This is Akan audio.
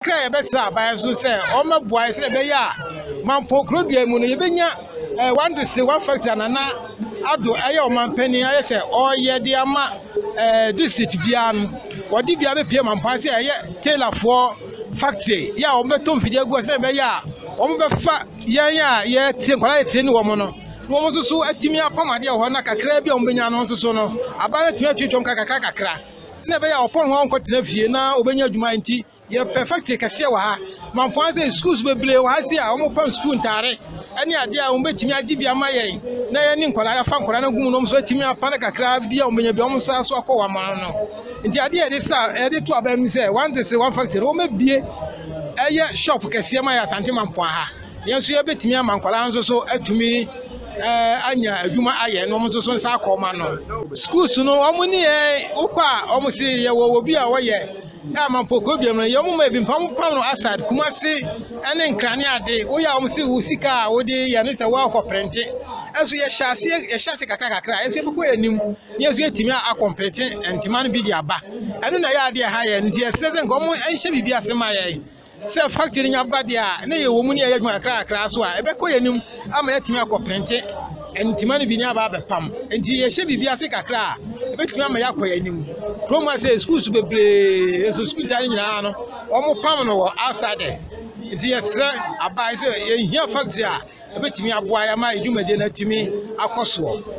Bere a yɛbɛsraa aban so sɛ wɔmmɛboa yɛn sɛnea ɛbɛyɛ a Mampong Kurodua mu no yebenya eh, one district, one factory a Nana Addo ɛyɛ ɔmanpanyin ayɛ sɛ ɔreyɛ de ama eh, district biara no, wɔde biara bepie Mampong sɛ ɛyɛ tailorfoɔ factory yɛ a wɔbɛtɔ mfidie agu hɔ sɛnea ɛbɛyɛ a wɔbɛfa yɛn a yɛtire nkwadaa yɛtire ne wɔn no na wɔn nso so atumi apam adeɛ wɔ hɔ na kakraa bi a wɔbɛnya no nso so no aban no atumi atwitwam kakra kakra Sɛnea ɛbɛyɛ a ɔpɔn ho ara nkɔtena fie na obenya adwuma nti, yɛpɛ factory kɛseɛ wɔ ha. Mampɔn ha sɛ schools bebree wɔ ha sei a wɔpam school ntaare ne adeɛ a wɔbɛtumi agye bi ama yɛn na yɛne nkwadaa yɛafa nkwadaa no agu mu na wɔn nso atumi apa no kakra bi a wɔbɛnya bi a wɔn san so akɔ wɔn aman no. Nti adeɛ a yɛde sa yɛde to abɛn mu sɛ one this one factory no wɔbɛbie ɛyɛ shop kɛseɛ ma yɛ Asante Mampɔn ha. Yɛn nso yɛbɛtumi ama nkwadaa nso so atumi anya adwuma ayɛ na wɔn nso so nsa akɔ ma no. Schools no wɔn ne yɛn wokɔ a wɔn se yɛwɔ obi a wɔyɛ ama mpɔkɔ biam no yɛ wɔn ma ebi mpa wɔn pam no asad kumase ne nkrane ade woyɛ a wɔn se wo sika a wode yɛ no sɛ wɔakɔ prɛnte ɛso yɛhyɛ aseɛ yɛhyɛ ase kakra kakra ɛso yɛbɛkɔ yɛn anim yɛn nso yɛtumi akɔ mprɛte ntoma no bi de aba ɛno na ɛyɛ adeɛ ha yɛn nti yɛsrɛ sɛ nka wɔn nhyɛ biribi ase ma yɛn Sɛ factory no nya ba deɛ a, na yɛwɔ mu ne yɛyɛ adwuma kakra kakra so a, ɛbɛkɔ yɛn anim ama yɛatumi akɔ prente ntoma no bi ne aba abɛpam. Nti yɛhyɛ biribi ase kakra a, ɛbɛtumi ama yɛakɔ yɛn anim. Kurom ha sɛ schools bebree nso school ntaade nyinaa no, wɔn pam no wɔ outsiders. Nti yɛsrɛ aban sɛ yɛhia factory a ɛbɛtumi aboa yɛn ama dwumadie no atumi akɔ soɔ.